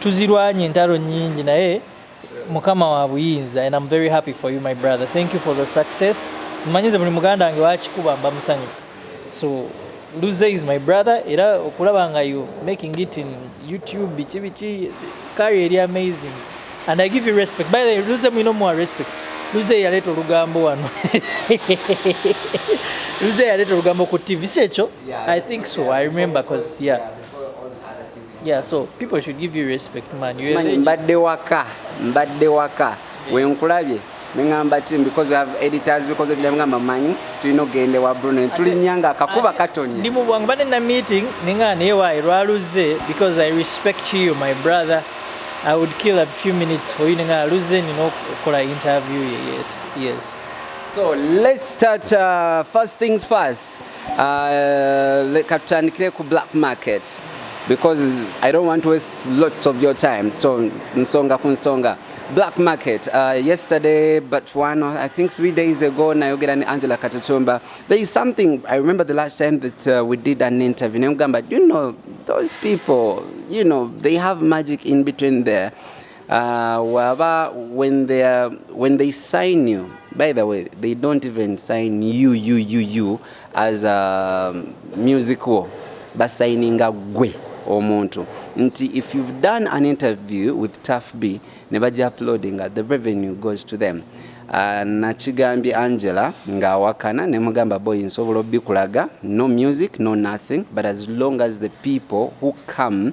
Tuzirwanye entalo nyingi naye mukama wa buyinza and I'm very happy for you my brother. Thank you for the success. Mmanyize buli muganda wange wakikuba mba musanyufu. So Luze is my brother era okulaba nga you making it in YouTube biki biki carry eri amazing and I give you respect. By the way, Luze mwino mwa respect. Luze yaleta olugambo wano. Luze yaleta olugambo ku TV. Si ekyo? Yeah, I think so. Yeah, I remember because yeah. yeah. Yeah, so people should give you respect man. You Simanyi mbadde waka, mbadde waka. Wenkulabye nengamba ti because we have editors because of them ngamba manyi tulina ogenda ewa Bruno ne tulinnya nga akakuba katonye. Ndi mu bwangu mbadde na meeting nengamba naye wayi lwaluzze because I respect you my brother. I would kill a few minutes for you nengamba luzze nina okukola interview ye yes yes. So let's start uh, first things first. Uh, leka tutandikire ku black market because I don't want to waste lots of your time so nsonga ku nsonga black market uh, yesterday but one or I think three days ago nayogera ni Angela Katutumba there is something I remember the last time that uh, we did an interview nemugamba you know those people you know they have magic in between there Uh, waba when they are, when they sign you by the way they don't even sign you you you you as a um, music war basayininga gwe omuntu nti if you've done an interview with taf b ne baja uploadinga the revenue goes to them uh, nakigambye angela ng'awakana ne mugamba boy nsobola obikulaga no music no nothing but as long as the people who come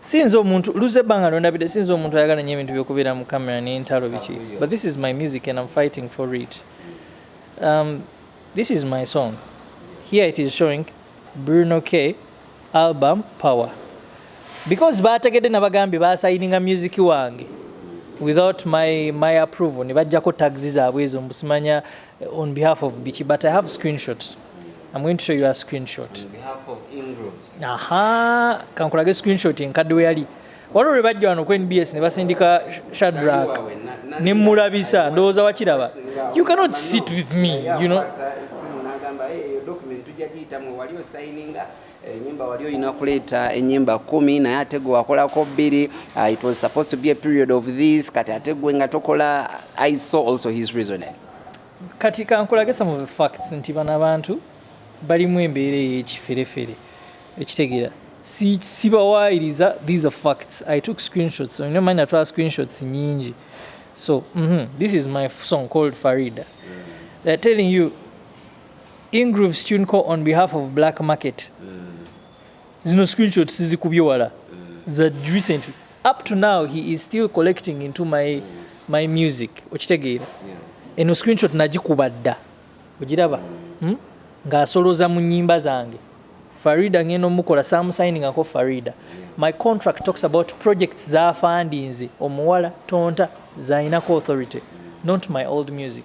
sinze omuntu luze banga nondabide sinze omuntu ayagala nyo ebintu byokubera mu camera ne ntalo biki but this is my music and i'm fighting for it um, this is my song here it is showing bruno k album power because bategede nabagambye basayininga music wange without my, my approval ne bajjako taxi zaabwe ezo mbusimanya On behalf of Biki, but I have screenshots. I'm going to show you a screenshot. On behalf of Ingrooves. Aha, kankulage screenshot enkadde we yali. Waliwo lwe bajja wano ku NBS ne basindika Shadrack ne mmulabisa ndowooza wakiraba. You cannot sit with me, you know. enyimba wali olina kuleeta enyimba kumi naye ate gwe wakolako bbiri uh, it was supposed to be a period of this kati ate gwe nga tokola i saw also his reasoning kati kankulage some of the facts nti bano abantu balimu embeera eyekiferefere ekitegeera sibawaayiriza si these are facts i took screenshots olina omanyi natwala screenshots nyingi so mm -hmm. this is my song called farida they're telling you Ingrooves Tune Co on behalf of Black Market. Zino screenshots sizikubye wala za recently. Up to now he is still collecting into my my music. Okitegeera. Eno screenshot nagikuba dda. Ogiraba? Hmm? Ng'asoloza mu nyimba zange. Farida ngeno mukola some signing ako Farida. My contract talks about projects za fundings omuwala tonta zainako authority not my old music.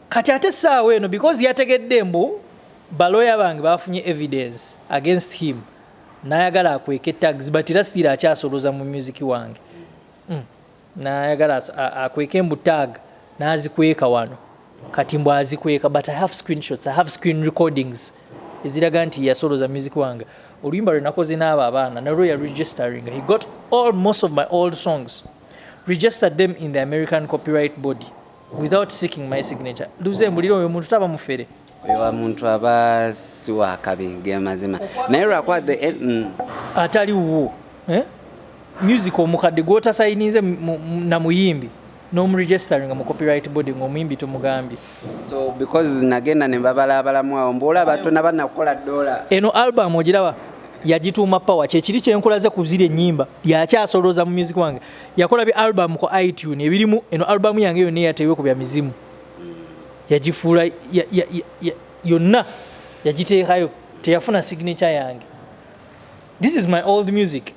Kati ate saawa eno because yategedde mbu baloya bange bafunye evidence against him nayagala akweke tags but era still akyasoloza mu music wange mm. nayagala akweke mbu tag nazikweka wano kati mbu azikweka but i have screenshots i have screen recordings eziraga nti yasoloza music wange oluyimba lwe nakoze n'abo abaana nalwo ya registering he got all most of my old songs registered them in the american copyright body without seeking my signature luze mbulira oyo muntu taba mufere oyo wa muntu aba si wa kabi ge mazima naye lwakuba the eh, mm. atali wuwo eh? music omukadde gwotasayinize na muyimbi nomuregisteringa mu copyright body ngaomuyimbi tomugambye so because nagenda nembabala abalamu awo mbuola batona banakukola dola eno album ogiraba yagituuma power kyekiri kyenkulaze kuzira enyimba yakyasolooza mu music wange yakola bi album ku iTunes ebirimu eno album yange yonna eyateebwe ku bya mizimu yagifuula yonna yagiteekayo teyafuna signature yange this is my old music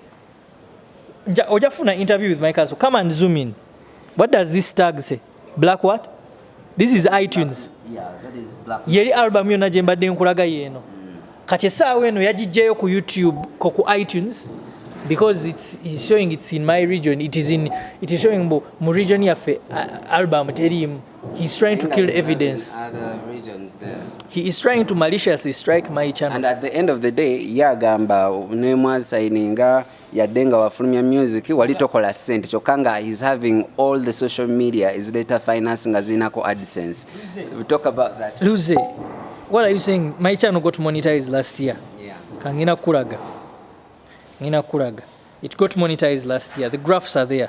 ojafuna interview with my castle come and zoom in what does this tag say black what this is itunes yeri album yonna gye mbadde nkulaga yeeno mm. kati essaawa eno yagijjayo ku youtube ko ku itunes because it's, it's showing it's in my region it is in it is showing mbu mu region yaffe album teriimu he is trying to kill evidence he is trying to maliciously strike my channel and at the end of the day yagamba nemwasayininga yadde nga wafulumya music wali tokola sente kyokka nga is having all the social media is data finance nga zirinako adsense talk about that luze what are you saying my channel got monetized last year yeah. kangina kulaga ngina kulaga it got monetized last year the graphs are there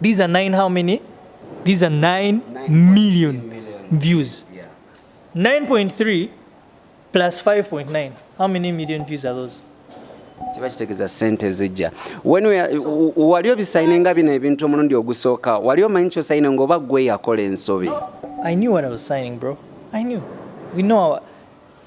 These are nine how many? These are nine, nine million, million views. Yeah. 9.3 plus 5.9. How many million views are those? kiba kitegeeza sente ezijja wali obisayine nga bino ebintu omulundi ogusooka wali omanyi kyosayine ngaoba gwe yakola ensobi i knew what i was signing bro i knew we know our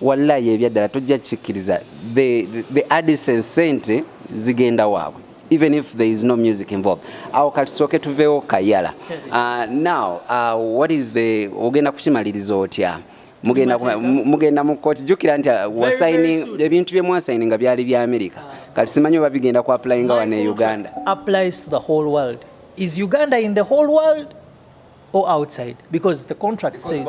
Wallayi ebyaddala tojja kikkiriza the, the adisen sente zigenda waabwe even if there is no music involved awo katusooke tuveewo kayala uh, now uh, what is the ogenda kukimaliriza otya mugenda mu kooti jukira nti uh, wasaini ebintu bye mwasaini nga byali bya amerika ah. kati simanyi oba bigenda ku applyinga wano e uganda applies to the whole world is uganda in the whole world or outside because the contract says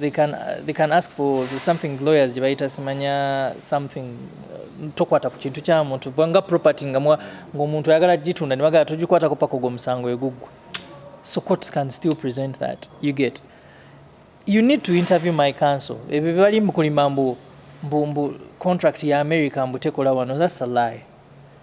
they can, uh, they can ask for something lawyers gye bayita simanya something uh, tokwata ku kintu kya muntu nga property nga ng'omuntu ayagala gitunda ne bagala togikwatako paka ogwo omusango eguggwa so court can still present that you get you need to interview my council ebyo bebali mukulima mbu mbu mbu contract ya america mbu tekola wano that's a lie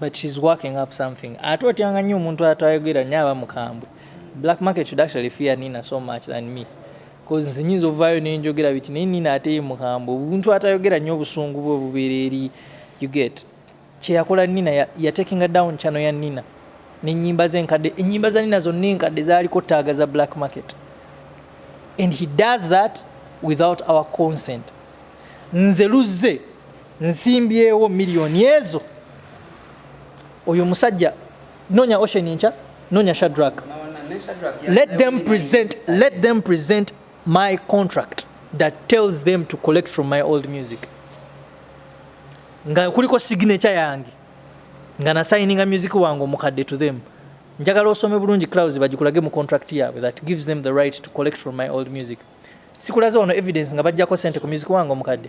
but she's working up something ate otyanga nnyo omuntu atayogera nnyo aba mukambwe black market should actually fear nina so much than me bcause nze nyinza ovaayo nenjogera biti naye nina ate ye mukambwe omuntu atayogera nnyo obusungu bwe obubeera eri you get kyeyakola nina yatekinga ya down chano ya nina nenyimba ze enkadde enyimba za nina zonna enkadde zaliko taaga za black market and he does that without our consent nze luzze nzimbyewo miliyoni ezo oyo musajja nonya ocean enkya nonya shadrak let them present let them present my contract that tells them to collect from my old music nga kuliko signature yange nga nasayininga music wange omukadde to them njagala osome bulungi clouds bagikulage mu contract yaabwe that gives them the right to collect from my old music sikulaze wano evidence nga bajjako sente ku music wange omukadde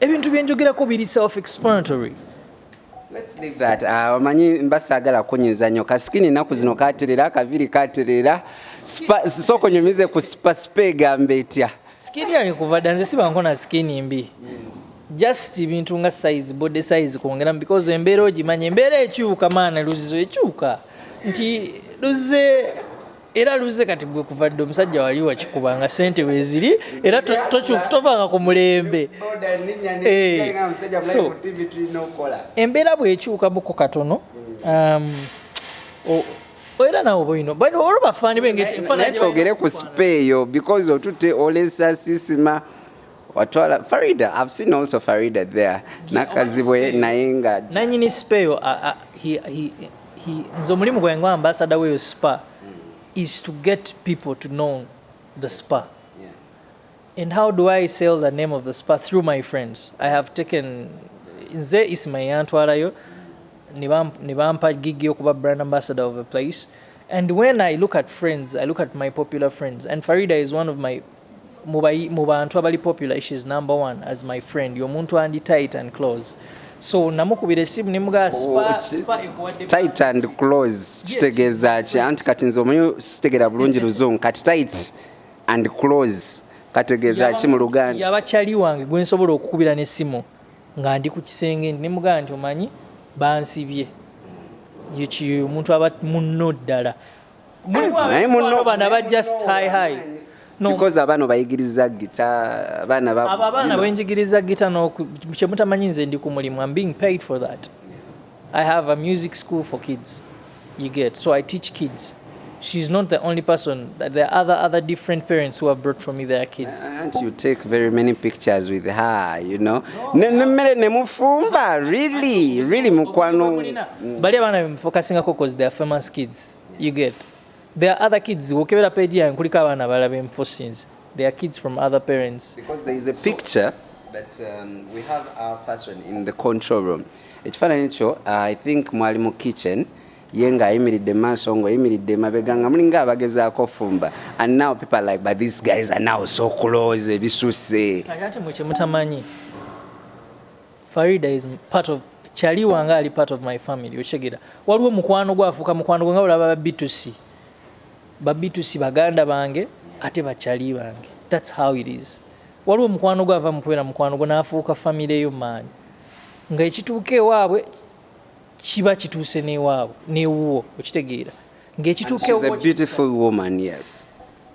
ebintu byenjogerako biri self explanatory uh, omanyi uh, mba saagala kunyiza nnyo kasikini ennaku zino katerera kaviri katerera sooka onyumize ku sipasipa egamba etya sikini yange kuva dda nze sibanko na sikini mbi just bintu nga size body size kwongeramu because embeera ogimanya embeera ekyuka maana luzizo ekyuka nti luze era luze kati gwe kuva dde omusajja wali wakikuba nga sente weziri era tovanga ku mulembe eh, embeera bwekyukamuku katono um, era nawe boino bano olwo bafaani bengeri twogere ku sipa eyo because otutte olesa sisima watwala farida i've seen also farida there nakazibwe naye nga nanyini speyo uh, uh, he, he, he, nze omulimu gwange nga ambasada weyo spa is to get people to know the spa yeah. and how do i sell the name of the spa through my friends i have taken nze ismail yantwalayo ne bampa gigi okuba brand ambassador of a place and when i look at friends i look at my popular friends and farida is one of my mu bantu abali popular she's number one as my friend yomuntu andi tight and close so namukubira esimu nemugaa oh, tight and close kitegeeza ki anti kati nze omanyi sitegera bulungi luzungu kati tight and close kategeeza ki mu luganda yaba kyali wange gwe nsobola okukubira n'essimu nga ndi ku kisenge ndi nemugaa nti omanyi bansibye omuntu aba munno ddala naye muno bana ba just high high no. because abana bayigiriza gita abana ba aba abana benjigiriza gita no kyemutamanyi nze ndi ku mulimu i'm being paid for that i have a music school for kids you get so i teach kids she's not the only person there are other other different parents who have brought for me their kids and you take very many pictures with her you know nemere ne mufumba really really mukwano bali abana bemfocusingako because they are famous kids you get there are other kids wokebera page yange kuliko abaana abalala benfusinze they are kids from other parents because there is a so, picture but um, we have our person in the control room ekifaananyi kyo uh, i think mwali mu kitchen ye ng'ayimiridde mu maaso ng'oyimiridde emabega nga mulinga abagezaako ofumba and now people like but these guys are now so close ebisusse ati mwe kyemutamanyi Farida is part of chali wanga ali part of my family okitegera waliwo mukwano gwafuuka mukwano gwe nga olaba babitusi babitusi baganda bange ate bachali bange thats how it is waliwo mukwano gwe ava mukubeera mukwano gwe naafuuka famire yo maanyi nga ekituuka ewaabwe kiba kituuse newaabwe newuwo okitegeera ngaekituuka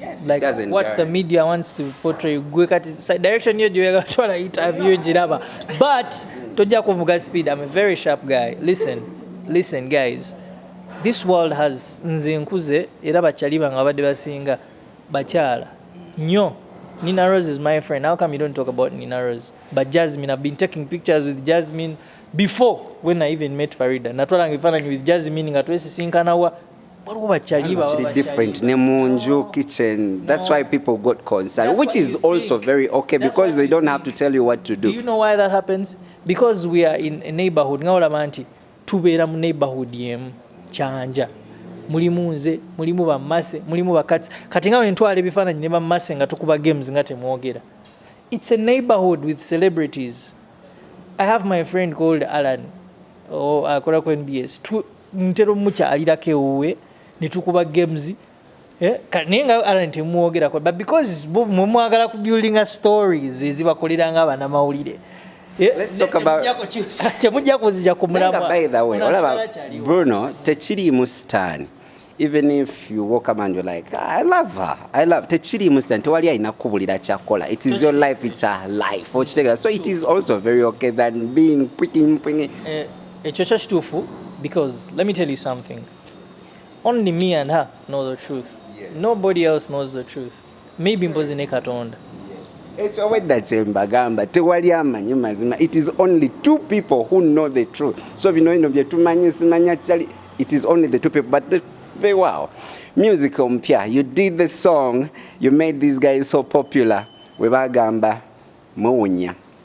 Yes, like what care. the media wants to portray gwe kati direction yo gyoyagala twala interview giraba but tojja kuvuga speed i'm a very sharp guy listen listen guys this world has nze nkuze era bakyali bange babadde basinga bakyala nyo nina rose is my friend how come you don't talk about nina rose but jasmine i've been taking pictures with jasmine before when i even met farida natwalanga ebifaananyi with jasmine nga twesisinkanawa waliwo bakyali kiri different ne munju kitchen that's why people got concerned that's which is also think. very okay that's because they don't think. have to tell you what to do do you know why that happens because we are in a neighborhood nga olaba nti tubeera mu neighborhood yemu kyanja mulimu nze mulimu bamase mulimu bakati kati nga wentwala ebifaananyi ne bamase nga tukuba games nga temwogera it's a neighborhood with celebrities i have my friend called alan oh, akola ku nbs ntera omukyalirako ewuwe ne tukuba games eh, naye nga alan temwogerako but because mwe mwagala ku building stories ezibakolera nga abanamawulire eh, temujja kuzija ku mulamwa bruno tekiriimu sitaani even if you walk up and you're like ah, i love her i love tekiri musa tewali alina kukubulira kyakola it is your life it's her life okitegera so it is also very okay than being picking picking eh, Ekyo kyo kituufu because let me tell you something. Only me and her know the truth. Yes. Nobody else knows the truth. Maybe mbozi ne Katonda. Ekyo obwedda kye mbagamba tewali amanyi mazima. It is only two people who know the truth. So bino bino bye tumanyi simanya chali it is only the two people but the, they wow. Music ompya. You did the song. You made these guys so popular. We bagamba muwunya.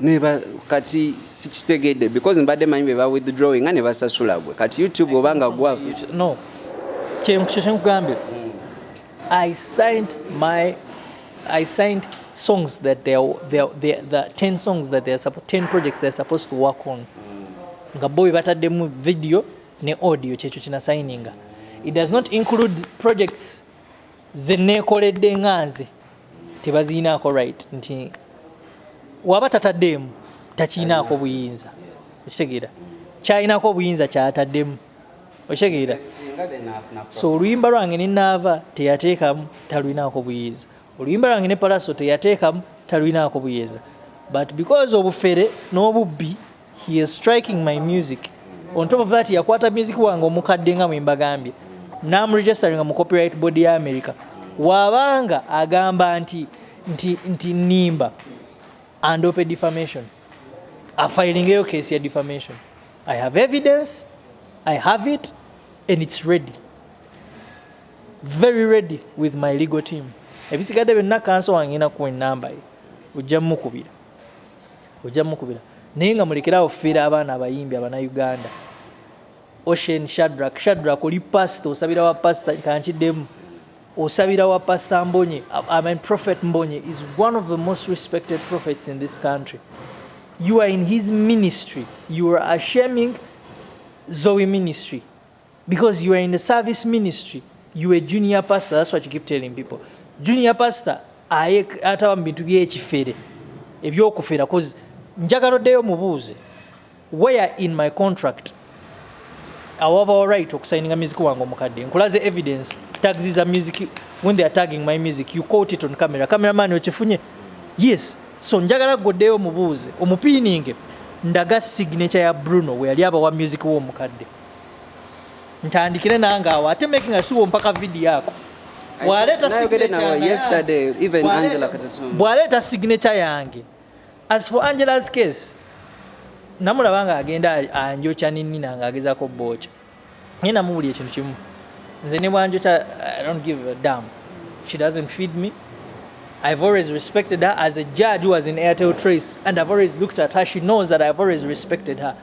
neba kati sikitegedde because mbadde manyi beba withdrawing nga nebasasula gwe kati youtube obanga gwavu no kyenkugambye i signed my i signed songs that they are, they are, they are, the 10 songs that they are 10 projects they are supposed to work on nga bo bataddemu video ne audio kyekyo kina signinga it does not include projects zeneekoledde nga nze tebaziyinaako right nti waba tataddemu takiyinaako buyinza okitegeera kyayinaako obuyinza kyataddemu okitegeera so oluyimba lwange nenaava teyateekamu taluyinaako buyinza oluyimba lwange ne palaso teyateekamu taluyinaako buyinza but because obufere n'obubbi He is striking my music. On top of that, yakwata music wange omukadde nga mwembagambye namuregisteringa mu copyright board ya america wabanga agamba nti nti nti nimba and open defamation afilingeyo case ya defamation i have evidence i have it and it's ready very ready with my legal team ebisigadde byonna kanso wange nakuwa enamba ye ojja mukubira Ojja mukubira naye nga mulekere awo fera abaana abayimbi abana Uganda. Ocean Shadrack Shadrack oli pastor osabira wa pastor kankiddemu osabira wa pastor Mbonye I mean prophet Mbonye is one of the most respected prophets in this country. You are in his ministry. You are ashaming Zoe ministry. because you are in the service ministry you are a junior pastor that's what you keep telling people junior pastor aye ataba mu bintu byekifere ebyokufera cause njagala oddeyo mubuuze where in my contract awabawo right okusayininga music wange omukadde nkulaze evidence tags za music when they are tagging my music you caught it on camera cameraman okifunye yes so njagala goddeyo omubuuze omupiininge ndaga signature ya bruno weyali abawa music w'omukadde ntandikire nange awo ate making sure mpaka video ako bwaleeta signature yange as for angela's case namulaba nga agenda anjokya ninina nga agezako booca naye namubuli ekintu kimu nze ne bwanjokya i don't give a dam she doesn't feed me I've always respected her as a judge who was in Airtel Trace, and I've always looked at her. She knows that I've always respected her.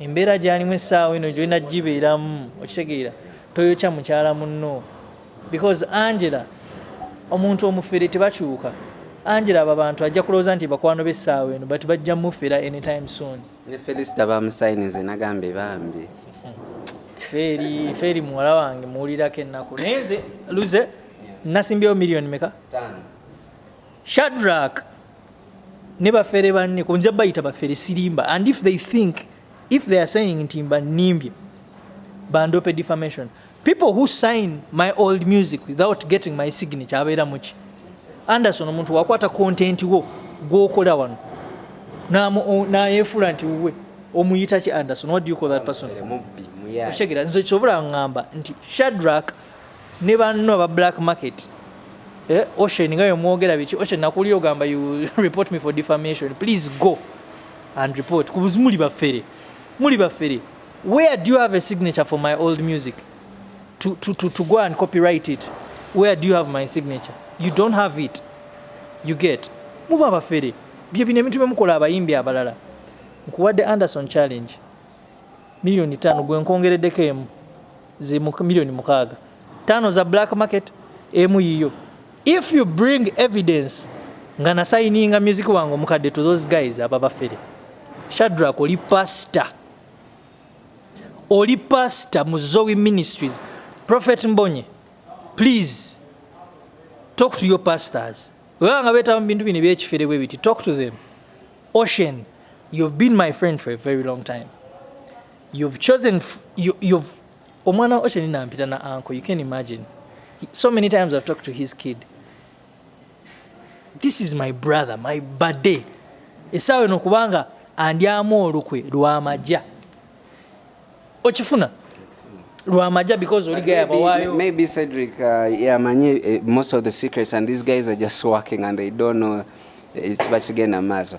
embeera gyalimu essaawa eno gyolina gibeeramu okitegeera toyokya mukyala munno because angela omuntu omufere tebakyuka angela abo abantu ajja kulowooza nti bakwano bessaawa eno but bajja mufera anytime soon ne felisita bamusayinize nagambye bambi feeri feeri muwala wange muwulirako ennaku naye nze luze nasimbyewo miliyoni meka shadrak ne bafere banne kunja bayita bafere sirimba and if they think if they are saying nti mba nimbye bandope defamation people who sign my old music without getting my signature abeera muki anderson omuntu wakwata kontenti wo gwokola wano nayefuula nti wuwe omuyita ki anderson what do you call that person okitegera nze kyobola ngamba nti shadrak ne banno aba black market eh, ocean nga yomwogera biki ocean nakuwulira ogamba you report me for defamation please go and report kubuzi muli bafere muli bafere where do you have a signature for my old music to, to, to, to go and copyright it where do you have my signature you don't have it you get muba abafere bye bino ebintu byemukola abayimbi abalala nkuwadde anderson challenge millioni tano gwenkongereddeko emu ze milioni mukaaga tano za black market emu yiyo if you bring evidence nga nasayininga music wange omukadde to those guys aba bafere shadrak oli pastor oli pastor mu zoe ministries prophet mbonye please talk to your pastors weba nga betaba mu bintu bino ebyekifere bwe biti talk to them ocean you've been my friend for a very long time you've chosen you, you've omwana wa Ocean nampita na uncle you can imagine so many times I've talked to his kid this is my brother my bade esaawa eno kubanga andyamu olukwe lwamaja okifuna lwamaja because oli gaya bawayo maybe Cedric uh, yamanyi yeah, uh, eh, most of the secrets and these guys are just working and they don't know eh, kiba kigenda maaso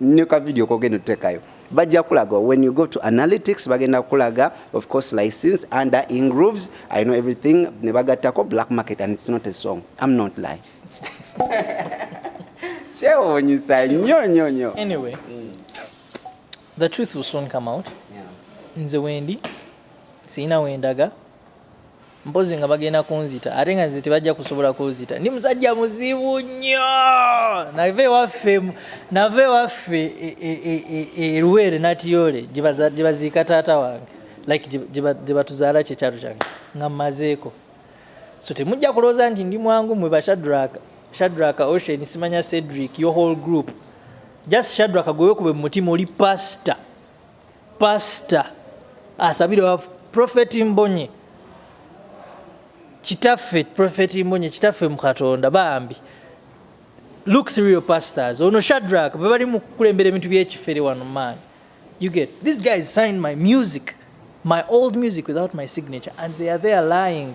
ne ka video kogenda otekayo bajja kulaga when you go to analytics bagenda kulaga of course license under ingrooves i know everything ne bagattako black market and it's not a song i'm not lying kyewuunyisa nnyo nnyo nnyo anyway mm. the truth will soon come out nze wendi sirina wendaga mpozi nga bagenda kunzita ate nga nze tebajja kusobola kunzita ndi musajja muzibu nnyo nava ewaffe nava ewaffe eruweere e, e, e, natiyole gyebaziika taata wange like gyebatuzaala kyekyalo kyange nga mmazeeko so temujja kulowooza nti ndi mwangu mwe bashadraka shadraka ocean simanya cedric your whole group just shadraka gwewekube mu mutima oli pasita Pastor asabira wa Prophet Mbonye kitaffe Prophet Mbonye kitaffe mu Katonda bambi look through your pastors ono Shadrack bwe bali mu kulembera ebintu by'ekifere wano man you get these guys signed my music my old music without my signature and they are there lying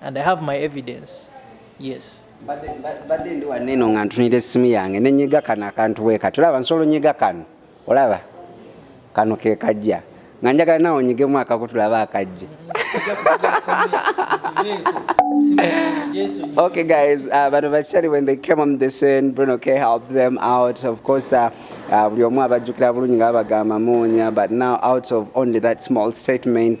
and i have my evidence yes mbadde ndi waneno nga ntunira essimu yange nenyiga kano akantu weka tulaba nsolo nyiga kano olaba kano kekajja nga njagala nawe onyigemu akako tulaba akajja okay guys uh, bano bakyali when they came on the scene bruno k help them out of course uh, uh, buli omu abajjukira bulungi nga babagamba muunya but now out of only that small statement